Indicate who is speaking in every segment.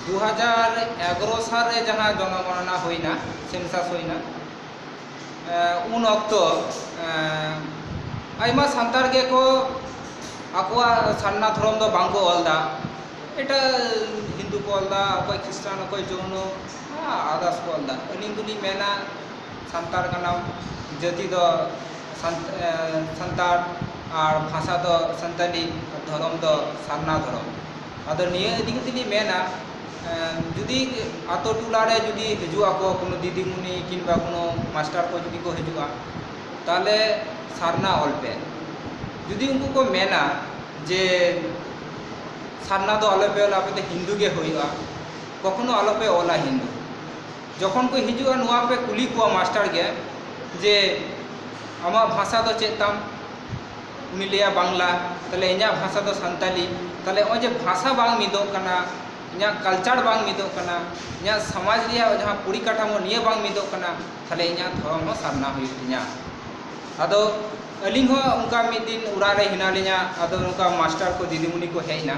Speaker 1: ᱫᱩ ᱦᱟᱡᱟᱨ ᱮᱜᱟᱨᱚ ᱥᱟᱞ ᱨᱮ ᱡᱟᱦᱟᱸ ᱡᱚᱱᱚᱜᱚᱱᱚᱱᱟ ᱦᱩᱭᱱᱟ ᱥᱮᱱᱥᱟᱥ ᱦᱩᱭᱱᱟ ᱩᱱ ᱚᱠᱛᱚ ᱟᱭᱢᱟ ᱥᱟᱱᱛᱟᱲ ᱜᱮᱠᱚ ᱟᱠᱚᱣᱟᱜ ᱥᱟᱨᱱᱟ ᱫᱷᱚᱨᱚᱢ ᱫᱚ ᱵᱟᱝᱠᱚ ᱚᱞᱫᱟ ᱮᱴᱟᱜ ᱦᱤᱱᱫᱩ ᱠᱚ ᱚᱞᱫᱟ ᱚᱠᱚᱭ ᱠᱷᱨᱤᱥᱴᱟᱱ ᱚᱠᱚᱭ ᱡᱳᱭᱱᱳ ᱟᱫᱟᱨᱥ ᱠᱚ ᱚᱞᱫᱟ ᱟᱹᱞᱤᱧ ᱫᱚᱞᱤᱧ ᱢᱮᱱᱟ ᱥᱟᱱᱛᱟᱲ ᱠᱟᱱᱟᱢ ᱡᱟᱹᱛᱤ ᱫᱚ ᱥᱟᱱᱛᱟᱲ ᱟᱨ ᱵᱷᱟᱥᱟ ᱫᱚ ᱥᱟᱱᱛᱟᱞᱤ ᱫᱷᱚᱨᱚᱢ ᱫᱚ ᱥᱟᱨᱱᱟ ᱫᱷᱚᱨᱚᱢ ᱟᱫᱚ ᱱᱤᱭᱟᱹ ᱤᱫᱤ ᱠᱟᱛᱮ ᱞᱤᱧ ᱢᱮᱱᱟ ᱡᱩᱫᱤ ᱟᱛᱳ ᱴᱚᱞᱟ ᱨᱮ ᱡᱩᱫᱤ ᱦᱤᱡᱩᱜ ᱟᱠᱚ ᱠᱳᱱᱳ ᱫᱤᱫᱤᱢᱩᱱᱤ ᱠᱤᱢᱵᱟ ᱠᱳᱱᱳ ᱢᱟᱥᱴᱟᱨ ᱠᱚ ᱡᱩᱫᱤ ᱠᱚ ᱦᱤᱡᱩᱜᱼᱟ ᱛᱟᱦᱚᱞᱮ ᱥᱟᱨᱱᱟ ᱚᱞ ᱯᱮ ᱡᱩᱫᱤ ᱩᱱᱠᱩ ᱠᱚ ᱢᱮᱱᱟ ᱡᱮ ᱥᱟᱨᱱᱟ ᱫᱚ ᱟᱞᱚ ᱯᱮ ᱚᱞᱟ ᱟᱯᱮ ᱫᱚ ᱦᱤᱱᱫᱩ ᱜᱮ ᱦᱩᱭᱩᱜᱼᱟ ᱠᱚᱠᱷᱚᱱᱳ ᱟᱞᱚ ᱯᱮ ᱚᱞᱟ ᱦᱤᱱᱫᱩ ᱡᱚᱠᱷᱚᱱ ᱠᱚ ᱦᱤᱡᱩᱜᱼᱟ ᱱᱚᱣᱟ ᱯᱮ ᱠᱩᱞᱤ ᱠᱚᱣᱟ ᱢᱟᱥᱴᱟᱨ ᱜᱮ ᱡᱮ ᱟᱢᱟᱜ ᱵᱷᱟᱥᱟ ᱫᱚ ᱪᱮᱫ ᱛᱟᱢ ᱩᱱᱤ ᱞᱟᱹᱭᱟ ᱵᱟᱝᱞᱟ ᱛᱟᱦᱚᱞᱮ ᱤᱧᱟᱹᱜ ᱵᱷᱟᱥᱟ ᱫᱚ ᱥᱟᱱᱛᱟᱞᱤ ᱛᱟᱦᱚᱞᱮ ᱱᱚᱜᱼᱚᱭ ᱡᱮ ᱵᱷᱟᱥᱟ ᱵᱟᱝ ᱢᱤᱫᱚᱜ ᱠᱟᱱᱟ ᱤᱧᱟᱹᱜ ᱠᱟᱞᱪᱟᱨ ᱵᱟᱝ ᱢᱤᱫᱚᱜ ᱠᱟᱱᱟ ᱤᱧᱟᱹᱜ ᱥᱚᱢᱟᱡᱽ ᱨᱮᱭᱟᱜ ᱡᱟᱦᱟᱸ ᱯᱚᱨᱤᱠᱟᱴᱷᱟᱢᱳ ᱱᱤᱭᱟᱹ ᱵᱟᱝ ᱢᱤᱫᱚᱜ ᱠᱟᱱᱟ ᱛᱟᱦᱚᱞᱮ ᱤᱧᱟᱹᱜ ᱫᱷᱚᱨᱚᱢ ᱦᱚᱸ ᱥᱟᱨᱱᱟ ᱦᱩᱭᱩᱜ ᱛᱤᱧᱟᱹ ᱟᱫᱚ ᱟᱹᱞᱤᱧ ᱦᱚᱸ ᱚᱱᱠᱟ ᱢᱤᱫ ᱫᱤᱱ ᱚᱲᱟᱜ ᱨᱮ ᱦᱮᱱᱟᱜ ᱞᱤᱧᱟᱹ ᱟᱫᱚ ᱱᱚᱝᱠᱟ ᱢᱟᱥᱴᱟᱨ ᱠᱚ ᱫᱤᱫᱤᱢᱩᱱᱤ ᱠᱚ ᱦᱮᱡ ᱮᱱᱟ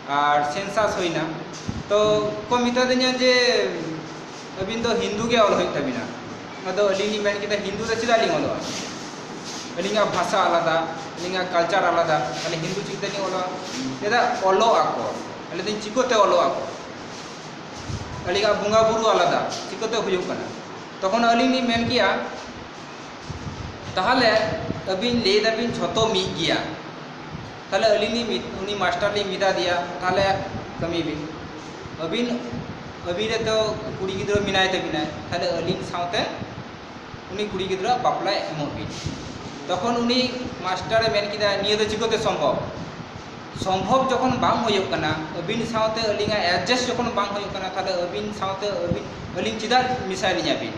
Speaker 1: ᱟᱨ ᱥᱮᱱᱥᱟᱥ ᱦᱩᱭᱱᱟ ᱛᱚ ᱠᱚ ᱢᱮᱛᱟ ᱫᱤᱧᱟ ᱡᱮ ᱟᱹᱵᱤᱱ ᱫᱚ ᱦᱤᱱᱫᱩ ᱜᱮ ᱚᱞ ᱦᱩᱭᱩᱜ ᱛᱟᱹᱵᱤᱱᱟ ᱟᱫᱚ ᱟᱹᱞᱤᱧ ᱞᱤᱧ ᱢᱮᱱ ᱠᱮᱫᱟ ᱦᱤᱱᱫᱩ ᱫᱚ ᱪᱮᱫᱟᱜ ᱞᱤᱧ ᱚᱞᱚᱜᱼᱟ ᱟᱹᱞᱤᱧᱟᱜ ᱵᱷᱟᱥᱟ ᱟᱞᱟᱫᱟ ᱟᱹᱞᱤᱧᱟᱜ ᱠᱟᱞᱪᱟᱨ ᱟᱞᱟᱫᱟ ᱛᱟᱦᱚᱞᱮ ᱦᱤᱱᱫᱩ ᱪᱮᱫ ᱛᱮᱞᱤᱧ ᱚᱞᱚᱜᱼᱟ ᱪᱮᱫᱟᱜ ᱚᱞᱚᱜ ᱟᱠᱚ ᱟᱹᱞᱤᱧ ᱫᱚ ᱪᱤᱠᱟᱹᱛᱮ ᱚᱞᱚᱜ ᱟᱠᱚ ᱟᱹᱞᱤᱧᱟᱜ ᱵᱚᱸᱜᱟ ᱵᱩᱨᱩ ᱟᱞᱟᱫᱟ ᱪᱤᱠᱟᱹᱛᱮ ᱦᱩᱭᱩᱜ ᱠᱟᱱᱟ ᱛᱚᱠᱷᱚᱱ ᱟᱹᱞᱤᱧ ᱞᱤᱧ ᱢᱮᱱ ᱠᱮᱭᱟ ᱛᱟᱦᱚᱞᱮ ᱟᱹᱵᱤᱱ ᱞᱟᱹᱭ ᱫᱟᱵᱤᱱ ᱡᱷᱚᱛᱚ ᱢᱤᱫ ᱜᱮᱭᱟ ᱛᱟᱦᱞᱮ ᱟᱹᱞᱤᱧ ᱞᱤᱧ ᱩᱱᱤ ᱢᱟᱥᱴᱟᱨ ᱞᱤᱧ ᱢᱮᱛᱟ ᱫᱮᱭᱟ ᱛᱟᱦᱞᱮ ᱠᱟᱹᱢᱤ ᱵᱤᱱ ᱟᱹᱵᱤᱱ ᱟᱹᱵᱤᱱ ᱨᱮᱱ ᱫᱚ ᱠᱩᱲᱤ ᱜᱤᱫᱽᱨᱟᱹ ᱢᱮᱱᱟᱭ ᱛᱟᱹᱵᱤᱱᱟᱭ ᱛᱟᱦᱞᱮ ᱟᱹᱞᱤᱧ ᱥᱟᱶᱛᱮ ᱩᱱᱤ ᱠᱩᱲᱤ ᱜᱤᱫᱽᱨᱟᱹᱣᱟᱜ ᱵᱟᱯᱞᱟ ᱮᱢᱚᱜ ᱵᱤᱱ ᱛᱚᱠᱷᱚᱱ ᱩᱱᱤ ᱢᱟᱥᱴᱟᱨᱮ ᱢᱮᱱ ᱠᱮᱫᱟ ᱱᱤᱭᱟᱹ ᱫᱚ ᱪᱤᱠᱟᱹᱛᱮ ᱥᱚᱢᱵᱷᱚᱵ ᱥᱚᱢᱵᱷᱚᱵ ᱡᱚᱠᱷᱚᱱ ᱵᱟᱝ ᱦᱩᱭᱩᱜ ᱠᱟᱱᱟ ᱟᱹᱵᱤᱱ ᱥᱟᱶᱛᱮ ᱟᱹᱞᱤᱧᱟᱜ ᱮᱰᱡᱟᱥᱴ ᱡᱚᱠᱷᱚᱱ ᱵᱟᱝ ᱦᱩᱭᱩᱜ ᱠᱟᱱᱟ ᱛᱟᱦᱞᱮ ᱟᱹᱵᱤᱱ ᱥᱟᱶᱛᱮ ᱟᱹᱞᱤᱧ ᱪᱮᱫᱟᱜ ᱢᱮᱥᱟᱭ ᱞᱤᱧᱟ ᱵᱤᱱ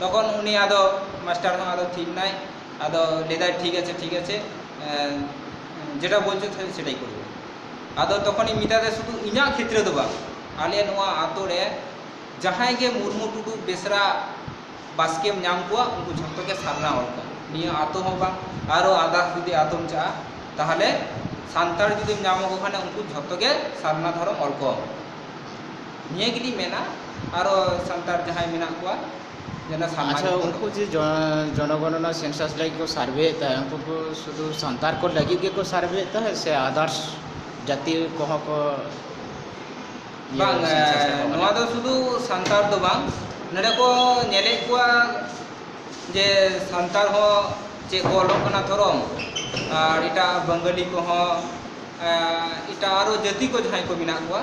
Speaker 1: ᱛᱚᱠᱷᱚᱱ ᱩᱱᱤ ᱟᱫᱚ ᱢᱟᱥᱴᱟᱨ ᱦᱚᱸ ᱟᱫᱚ ᱛᱷᱤᱨ ᱮᱱᱟᱭ ᱟᱫᱚ ᱞᱟᱹᱭᱫᱟᱭ ᱴᱷᱤᱠ ᱟᱪᱷᱮ ᱴᱷᱤᱠ ᱟᱪᱷᱮ ᱡᱮᱴᱟ ᱵᱚᱞᱪᱷᱚ ᱥᱮᱴᱟᱭ ᱠᱚᱨᱵᱚ ᱟᱫᱚ ᱛᱚᱠᱷᱚᱱᱤᱧ ᱢᱮᱛᱟ ᱫᱮᱭᱟ ᱥᱩᱫᱷᱩ ᱤᱧᱟᱹᱜ ᱠᱷᱮᱛᱨᱮ ᱫᱚ ᱵᱟᱝ ᱟᱞᱮ ᱱᱚᱣᱟ ᱟᱛᱳ ᱨᱮ ᱡᱟᱦᱟᱸᱭ ᱜᱮ ᱢᱩᱨᱢᱩ ᱴᱩᱰᱩ ᱵᱮᱥᱨᱟ ᱵᱟᱥᱠᱮᱢ ᱧᱟᱢ ᱠᱚᱣᱟ ᱩᱱᱠᱩ ᱡᱷᱚᱛᱚ ᱜᱮ ᱥᱟᱨᱱᱟ ᱦᱚᱲ ᱠᱟᱱᱟ ᱱᱤᱭᱟᱹ ᱟᱛᱳ ᱦᱚᱸ ᱵᱟᱝ ᱟᱨᱚ ᱟᱫᱟᱨᱥ ᱡᱩᱫᱤ ᱟᱛᱳᱢ ᱪᱟᱜᱼᱟ ᱛᱟᱦᱚᱞᱮ ᱥᱟᱱᱛᱟᱲ ᱡᱩᱫᱤᱢ ᱧᱟᱢ ᱠᱚ ᱠᱷᱟᱱ ᱩᱱᱠᱩ ᱡᱷᱚᱛᱚ ᱜᱮ ᱥᱟᱨᱱᱟ ᱫᱷᱚᱨᱚᱢ ᱦᱚᱲ ᱠᱚ ᱱᱤᱭᱟᱹ ᱜᱮᱞᱤᱧ ᱢᱮᱱᱟ ᱟᱨᱚ ᱥᱟᱱᱛᱟᱲ ᱡᱟᱦᱟᱸᱭ ᱢᱮᱱᱟᱜ ᱠᱚᱣᱟ ᱡᱮᱱᱚ ᱥᱟᱢᱟᱡᱽ ᱟᱪᱪᱷᱟ ᱩᱱᱠᱩ ᱡᱮ ᱡᱚᱱᱚᱜᱚᱱᱚᱱᱟ ᱥᱮᱱᱥᱟᱥ ᱞᱟᱹᱜᱤᱫ ᱠᱚ ᱥᱟᱨᱵᱷᱮᱭᱮᱫ ᱛᱟᱦᱮᱸᱫ ᱩᱱᱠᱩ ᱠᱚ ᱥᱩᱫᱩ ᱥᱟᱱᱛᱟᱲ ᱠᱚ ᱞᱟᱹᱜᱤᱫ ᱜᱮᱠᱚ ᱥᱟᱨᱵᱷᱮᱭᱮᱫ ᱛᱟᱦᱮᱸᱫ ᱥᱮ ᱟᱫᱟᱨᱥ ᱡᱟᱹᱛᱤ ᱠᱚᱦᱚᱸ ᱠᱚ ᱤᱭᱟᱹ ᱵᱟᱝ ᱥᱮᱱᱥᱟᱥ ᱨᱮᱠᱚ ᱱᱚᱣᱟ ᱠᱟᱱᱟ ᱫᱚ ᱥᱩᱫᱩ ᱥᱟᱱᱛᱟᱲ ᱫᱚ ᱵᱟᱝ ᱱᱚᱸᱰᱮ ᱠᱚ ᱧᱮᱞᱮᱫ ᱠᱚᱣᱟ ᱡᱮ ᱥᱟᱱᱛᱟᱲ ᱦᱚᱸ ᱪᱮᱫ ᱠᱚ ᱚᱞᱚᱜ ᱠᱟᱱᱟ ᱛᱷᱚᱨᱚ ᱟᱨ ᱮᱴᱟᱜ ᱵᱟᱝᱜᱟᱞᱤ ᱠᱚᱦᱚᱸ ᱮᱴᱟᱜ ᱟᱨᱚ ᱡᱟᱹᱛᱤ ᱠᱚ ᱡᱟᱦᱟᱸᱭ ᱠᱚ ᱢᱮᱱᱟᱜ ᱠᱚᱣᱟ